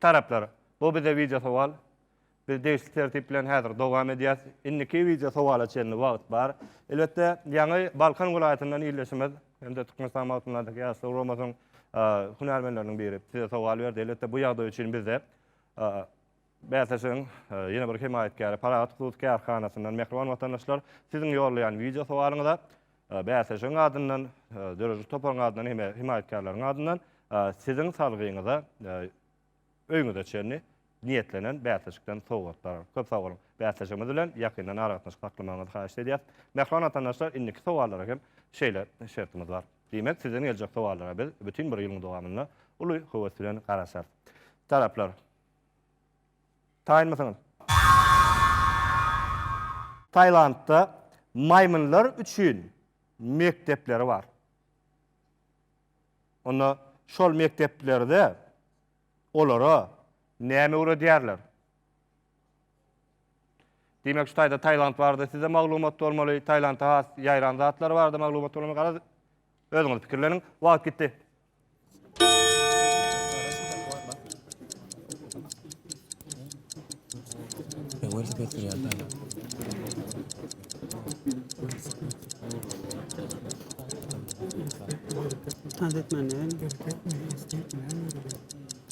Speaker 1: Taraplar, bu bize wideo sowal. Biz degişli tertip bilen häzir dowam edýäs. Indiki wideo sowala çenli wagt bar. Elbetde, ýaňy Balkan welaýatyndan ildeşimiz hem-de Türkmenistan Magtymgulydaky Ýaşlar guramasynyň hünärmenleriniň biri size sowal berdi. Elbetde, bu ýagdaý üçin bizde bäsleşigiň ýene bir hemaýatkäri Parahat hut kärhanasyndan mähriban watandaşlar siziň ýollaýan wideo sowalyňyza Bäsleşigiň adyndan, döredijilik toparyň adyndan hem hemaýatkärleriň adyndan siziň salgyňyza öýüňize çenli niýetlenen bäsleşikden sowgatlar. Köp sag boluň. Bäsleşigimiz bilen ýakyndan aragatnaşyk saklamagyňyzy haýyş edýäs. Mähriban watandaşlar, indiki sowallara hem şeýle şertimiz bar. Diýmek, sizden geljek sowallara biz bütin bir ýylyň dowamynda uly höwes bilen garaşarys. Taraplar. Taýynmysyňyz? Tailandda maýmynlar üçin mekdepleri bar. Onda şol mekdeplerde olara näme öwredýärler? Diýmek şu taýda Tailand barada size maglumat bolmaly, Tailandda has ýaýran zatlar barada maglumat bolmaly. Garaz Özüňiz pikirleniň, wagt gitdi. Tazet menen.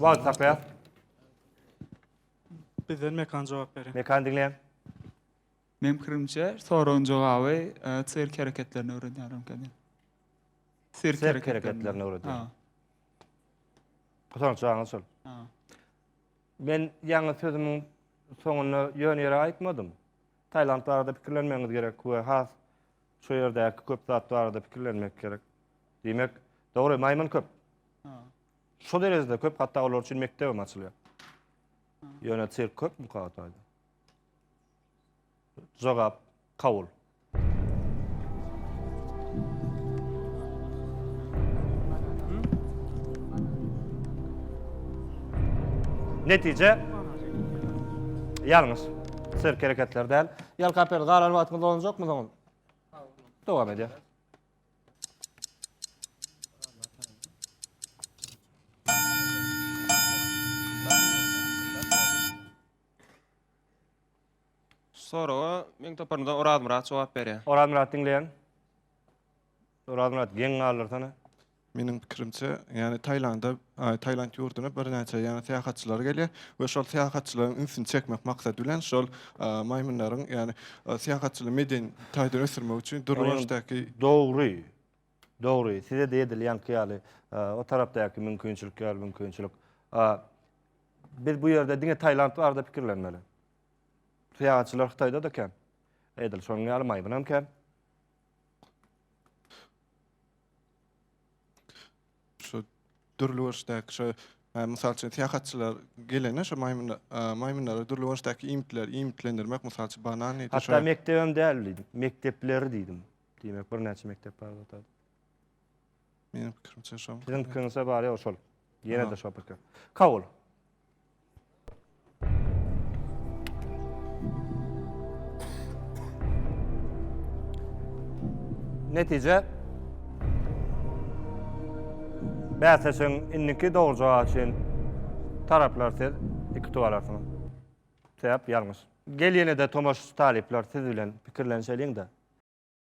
Speaker 1: Wagt tapýar. Bizden Mekan jogap berýär. Mekan diňleýän. Meň pikirimçe, soragyň jogaby sirk hereketlerini öwredýär öňkeden. Sirk hereketlerini öwredýär. Gusanç jaňyz şol. Men ýaňy sözümiň soňunda ýöne ýere aýtmadym. Tailand barada pikirlenmegiňiz gerek we has Şu ýerdäki köp zat barada pikirlenmek gerek. Diýmek, dogry, maýmyn köp. Şu derejede köp, hatda olar üçin mekdep hem açylýar. Ýöne sirk köpmi Kagataýda? Jogap kabul. Netije ýalňyş. Sirk hereketler däl. Ýal kaper galan wagtymyz bolanjakmy soňam? Dowam edýär. Soraga meň toparymdan Orazmyrat jogap berýär. Orazmyrat diňleýän. Orazmyrat geň galdyrsana. Meniň pikirimçe, ýagny Taýlanda, Taýland ýurduna birnäçe ýagny syýahatçylar gelýär we şol syýahatçylaryň ünsüni çekmek maksady bilen şol maýmynlaryň ýagny syýahatçylygy medeni taýdan ösdürmek üçin Durbanşdaky Dogry. Dogry. Size-de edilýänki ýaly o tarapdaky mümkinçilik ýaly mümkinçilik. Biz bu ýerde diňe Taýland barada pikirlenmeli. Syýahatçylar Hytaýda-da kän. Edil şonuň ýaly maýmynam kän. Şu dürli görüşdäki şu e, mysal üçin syýahatçylar gelene şu maýmyn maýmynlara dürli görüşdäki iýmitleri iýmitlendirmek mysal üçin banan ýa-da Hatda mekdebem däl diýdim. Mekdepleri diýdim. Diýmek birnäçe mekdep bar zat. meniň pikirimçe şo. Siziň pikiriňizde bar ýa şol. Ýene-de şo pikir. Kabul. Netije Bäsleşigiň indiki dogry jogaby üçin taraplar siz iki tuwal arsyňyz. Sebäp ýalňyş. Gel ýene-de tomaşaçy talyplar siz bilen pikirlenişeliň-de.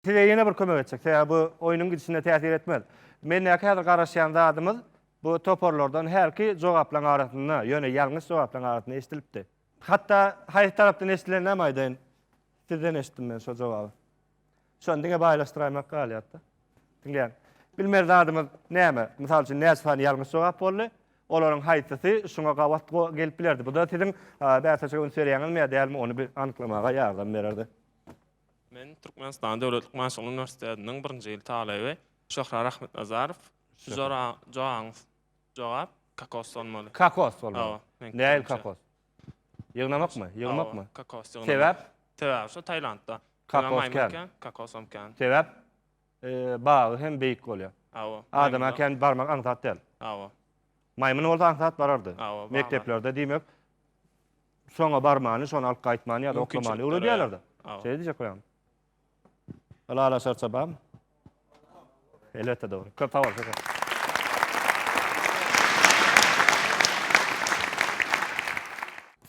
Speaker 1: Size ýene bir kömek etjek, sebäbi bu oýnuň gidişine täsir etmez. Mendäki häzir garaşýan zadymyz bu toparlardan hälki jogaplaryň arasynda, ýöne ýalňyş jogaplaryň arasynda eşidilipdi. Hatda haýsy tarapdan eşidileninem aýdaýyn. Sizden eşitdim men şo jogaby. Şony diňe baýlaşdyraýmak galýar-da. Diňläň. Bilmeli zadymyz näme? Mysal üçin, näçe sany ýalňyş jogap boldy? Olaryň haýsysy şuňa gabat gelip bilerdi? Bu-da siziň bäsleşige üns berýäňizmi ýa dälmi, ony bir anyklamaga ýardam bererdi. Men Türkmenistan Döwletlik Maşgala Uniwersitetiniň birinji ýyl talyby Şöhra Rahmetnazarow. Şu joraň jogap kakos bolmaly. Kakos bolmaly. Nähili kakos? Ýygnamakmy? Ýygmakmy? Kakos ýygnamak. Sebäp? Sebäbi şu Tailandda. Kakos kän. Kakos hem kän. Sebäp? Bagy hem beýik bolýar. Hawa. Adama kän barmak aňsat däl. Hawa. Maýmyn bolsa aňsat barardy. Hawa. Mekdeplerde diýmek Soňa barmany, şony alyp gaýtmany ýa-da oklamany öwredýärler-de. Şeýle diýjek bolýarmy? Ylala şarça barmy? Elbetde dogry. Köp sag bol.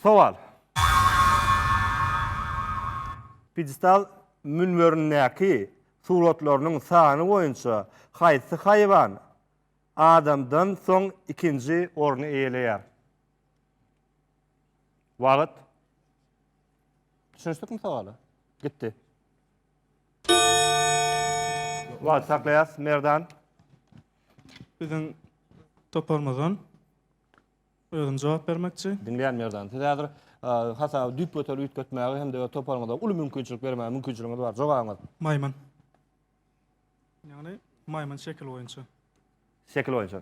Speaker 1: Sowal. Pidestal münberindäki suratlarynyň sany boýunça haýsy haýwan adamdan soň ikinji orny eýeleýär? Wagt. Düşünişdikmi sowala? Gitdi. Wagt saklaýas, Merdan. Biziň toparymyzdan özüm jogap bermekçi. Diňleýän Merdan. Siz häzir hasaby düýp göterip üýtgetmäge hem-de öz toparyňyza uly mümkinçilik bermäge mümkinçiligiňiz bar. Jogabyňyz? Maýmyn. Ýagny maýmyn şekil boýunça. Şekil boýunça.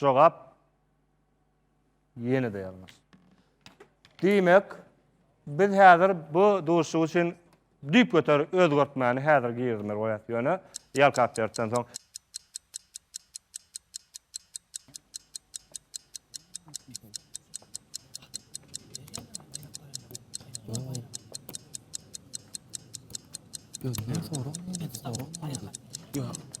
Speaker 1: Jogap ýene-de ýalňyş. Diýmek, biz häzir bu duşuşyk üçin düýpgöter özgertmäni häzir girizmeli bolýas, ýöne ýalkap beripden soň. Özünden soraň, näme diýip soraň, näme diýip. Ýok.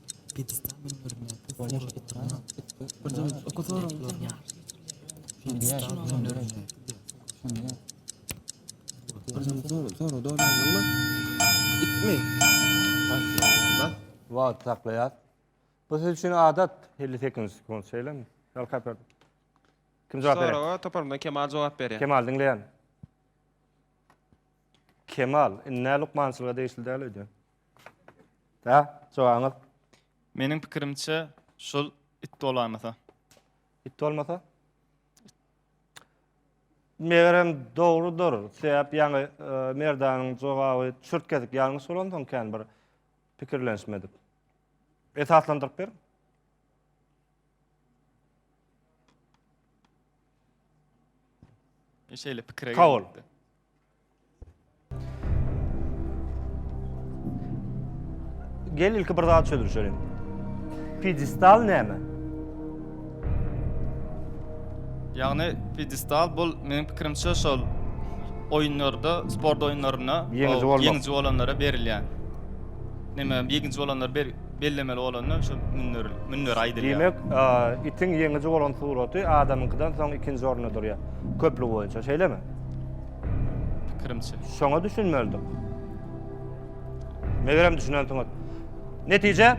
Speaker 1: Wagt saklaýar. Bu siz üçin adat 50 sekund sekund şeýlemi? Ýa kaper. Kim jogap berýär? Soraga toparymdan Kemal jogap berýär. Kemal diňleýän. Kemal, indi nä lukmançylyga degişli däl öýdýän. Hä? Jogabyňyz? Meniň pikirimçe şul it bolanasa. It bolmasa? Megerem dogrudyr. Sebäp ýaňy e, Merdanyň jogaby çürt gezip ýalňyş bolansoň kän bir pikirlenişmedik. Esaslandyryp ber. Şeýle pikire Kabul. gelipdi. Gel ilki bir zat çözülişelim. Pidistal näme? Ýagny pidistal bu meniň pikirimçe şol oýunlarda, sport oýunlarynda ýeňiji bolmak, ýeňiji bolanlara berilýän. Näme, ýeňiji bolanlar ber bellemeli bolanda şu mündir, mündir aýdylýar. Diýmek, itiň ýeňiji bolan suraty adamyňkydan soň ikinji orunda durýar. Köplük boýunça, şeýlemi? Pikirimçe. Şoňa düşünmeldik. Megerem düşünensiňiz. Netije?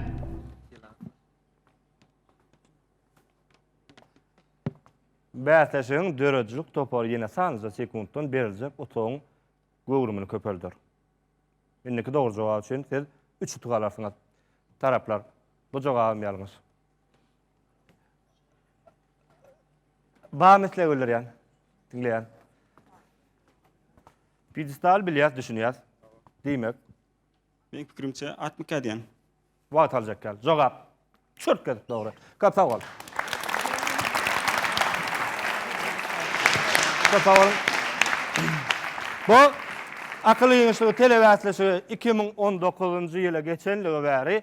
Speaker 1: Bäsleşigiň döredijilik topary ýene sanlyja sekuntdan beriljek utugyň göwrümini köpelder. Indiki dogry jogap üçin siz üç utuk alarsyňyz. Taraplar, bu jogabym ýalňyş. Bam isle güldirýän. Diňleýän. Pidestal bilýär, düşünýär. Diýmek. Meň pikirimçe atmyka diýen. Wagt aljak gal. Jogap. Çört gezip dogry. Köp sag bol. Köp sag bol. Bu akyl ýygyşygy telebäsleşigi 2019-njy ýyla geçenligi bäri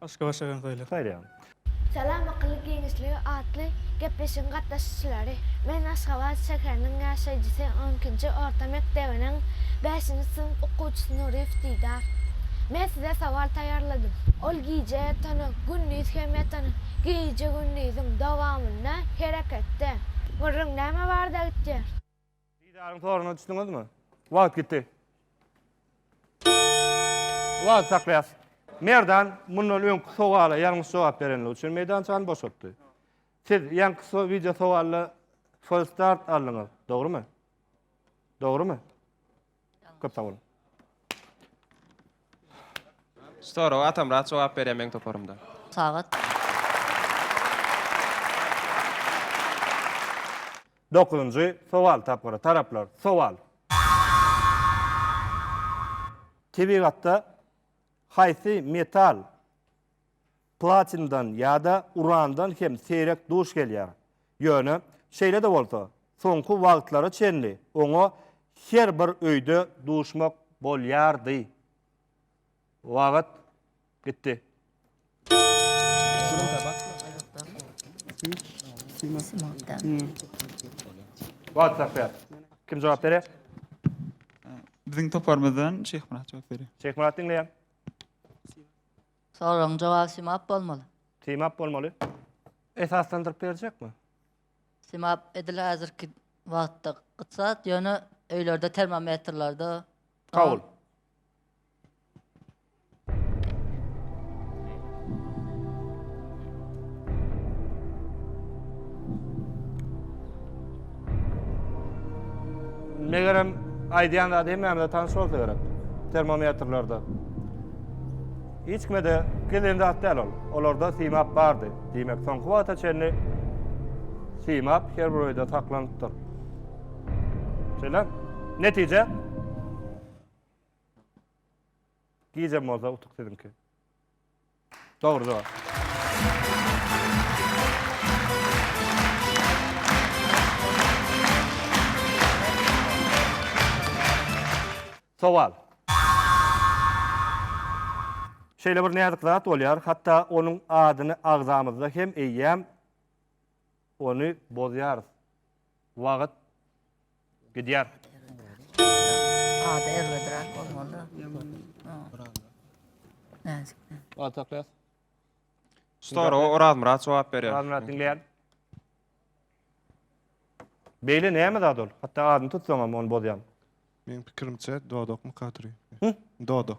Speaker 1: Başga başga konsoýlar. Saýlaýan. Salam Akylly giňişligi atly gepleşigiň gatnaşyjylary! Men Aşgabat şäheriniň ýaşaýjysy on ikinji orta mekdebiniň bäşinji synp okuwçysy Nuryýew Didar. Men size sowal taýýarladym. Ol gije ýatanyň, gündiz hem ýatanyň, gije-gündiziň dowamynda hereketde. Gürrüň näme barada gitýär? Didaryň soruna düşdüňizmi? Wagt gitdi. Wagt saklaýas. Merdan mundan öňki sowala ýalňyş jogap berenligi üçin meýdançany boşatdy. Siz ýanky so wideo sowalda false start aldyňyz, dogrymy? Dogrymy? Köp sag boluň. Soraga Atamyrat jogap berýär meň toparymda. Sagat. Dokuzynjy sowal tapgyry, taraplar, sowal. Tebigatda haýsy metal. Platindan ýa-da urandan hem seýrek duş gelýär. Ýöne, şeýle-de bolsa, soňky wagtlara çenli oňa her bir öýde duşmak bolýardy. Wagt gitdi. Kim jogap berýär? Biziň toparymyzdan Şeýhmyrat jogap berýär. Şeýhmyrat diňleýän. Soragyň jogaby simap bolmaly. Simap bolmaly. Esaslandyryp berjekmi? Simap edil häzirki wagtda gytsat, ýöne öýlerde termometrlerde Kabul. Megerem aýdýan zady hemmämize tanyş bolsa gerek. Termometrlerde. Hiç kime de gizlin zat däl ol. Olarda simap bardy. Diýmek, soňky wagta çenli simap her bir öýde saklanypdyr. Şeýle. Netije Gijäm bolsa utuk siziňki. Dogry jogap. Sowal. Şeýle bir näzik zat bolýar, hatda onuň adyny agzamyzda hem eýýäm Ony bozýarys. Wagyt gidýär. Ady erbedräk bolmaly. Wagt saklaýas. Stora Orazmyrat jogap berýär. Orazmyrat diňleýän. Beýle näme zat ol? Hatda adyny tutsaňam ony bozýan. Meň pikirimçe dodak mykaturi. Dodo.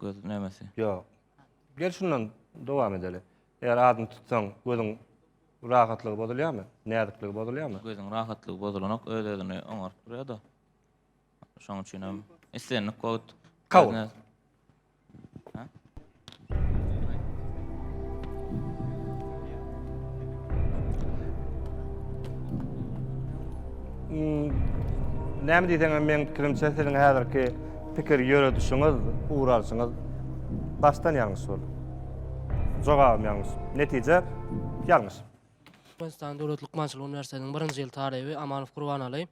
Speaker 1: Göz nämesi? Ýok. Gel şundan dowam edeli. Eger adyny tutsaň, gözüň rahatlygy bozulýarmy? Näzikligi bozulýarmy? Gözüň rahatlygy bozulanok, öz özüni oňaryp durýar-da. Şoň üçin hem islendik wagt Kabul. Göz nä- Hmm, Näme diýseň hem meň pikirimçe siziň häzirki Pikir ýöredişiňiz, ugur alşyňyz başdan ýalňyş boldy. Jogabym ýalňyş. Netije ýalňyş. Türkmenistan döwlet lukmançylyk uniwersitetiniň birinji ýyl talyby Amanow Gurbanaly.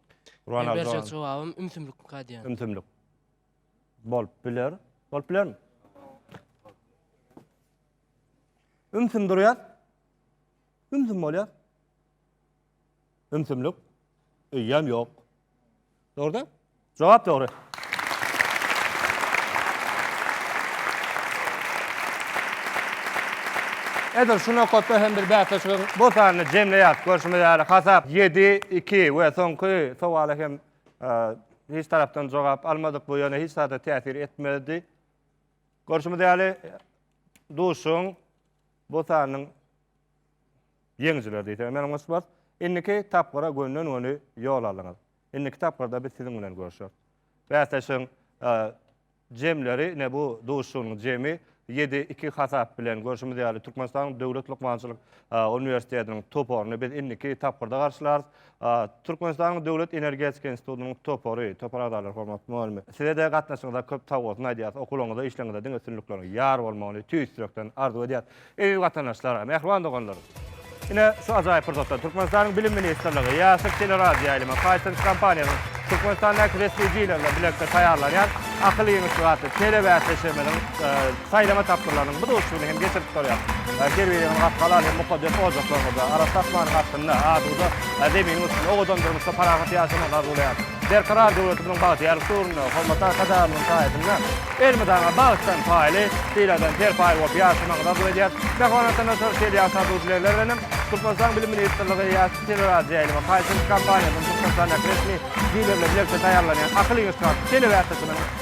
Speaker 1: Gurbanaly Berjek jogap. jogabym ümsümlikmi kadýan. Ümsümlik. Bolup biler. Bolup bilermi? Ümsüm durýar. Ümsüm bolýar. Ümsümlik öýem ýok. Dogry da? Jogap dogry. Edil şu nokatda hem bir bäsleşigiň bu sanyny jemleýäs. Görşümiz ýaly hasap 7-2 we soňky sowala hem hiç tarapdan jogap almadyk. Bu ýöne hiç zada täsir etmedi. Görşümiz ýaly duşuň bu sanynyň Ýeňijiler diýseňiz meniň goşup bar. Indiki tapgyra gönden-göni ýol aldyňyz. Indiki tapgyrda biz siziň bilen görüşeris. Bäsleşigiň jemleri, ine bu duşuşygynyň jemi ýedi iki hasap bilen görşümiz ýaly, Türkmenistanyň Döwlet lukmançylyk uniwersitetiniň toparyny biz indiki tapgyrda garşylarys. Türkmenistanyň Döwlet energetika institutynyň topary, topar agzalary hormatly mugallymlar! Size-de gatnaşygyňyza köp sagbolsun aýdýarys, okuwlaryňyzda, işleriňizde diňe üstünlikleriň ýar bolmagyny tüýs ýürekden arzuw edýäris. Eziz watandaşlar, mähriban doganlar! Ine, şu ajaýyp pursatda Türkmenistanyň Bilim ministrligi, Ýaşyl teleradioýaýlyma, Paytence kompaniýasynyň Türkmenistandaky resmi dilerler bilelikde taýýarlanýan Akyl ýeňişi atly telebäsleşigimiziň Saýlama tapgyrlarynyň bu duşuşygyny hem geçirip durýar. Terbiýeň rak halal hem mukaddes ojaklarymyzda, arassa asmanyň astynda, asuda Zeminiň üstünde owadan durmuşda parahat ýaşamagyny arzuwlaýaryn. Berkarar döwletimiziň bagtyýar husurynda, hormatly Arkadagymyzyň saýasynda elmydama bagtdan paýly, syladan serpaý bolup ýaşamagyňyzy arzuw edýär. Mähriban Watandaşlar, şeýle ýaş arzuw dilegler bilen hem, Türkmenistanyň Bilim ministrligi Ýaş teleradioýaýlyma haýyşlyk kompaniýasynyň Türkmenistandäki resmi dilerleri bilelikde taýýarlanýan Akyl iňiş karty telebäsleşiginiň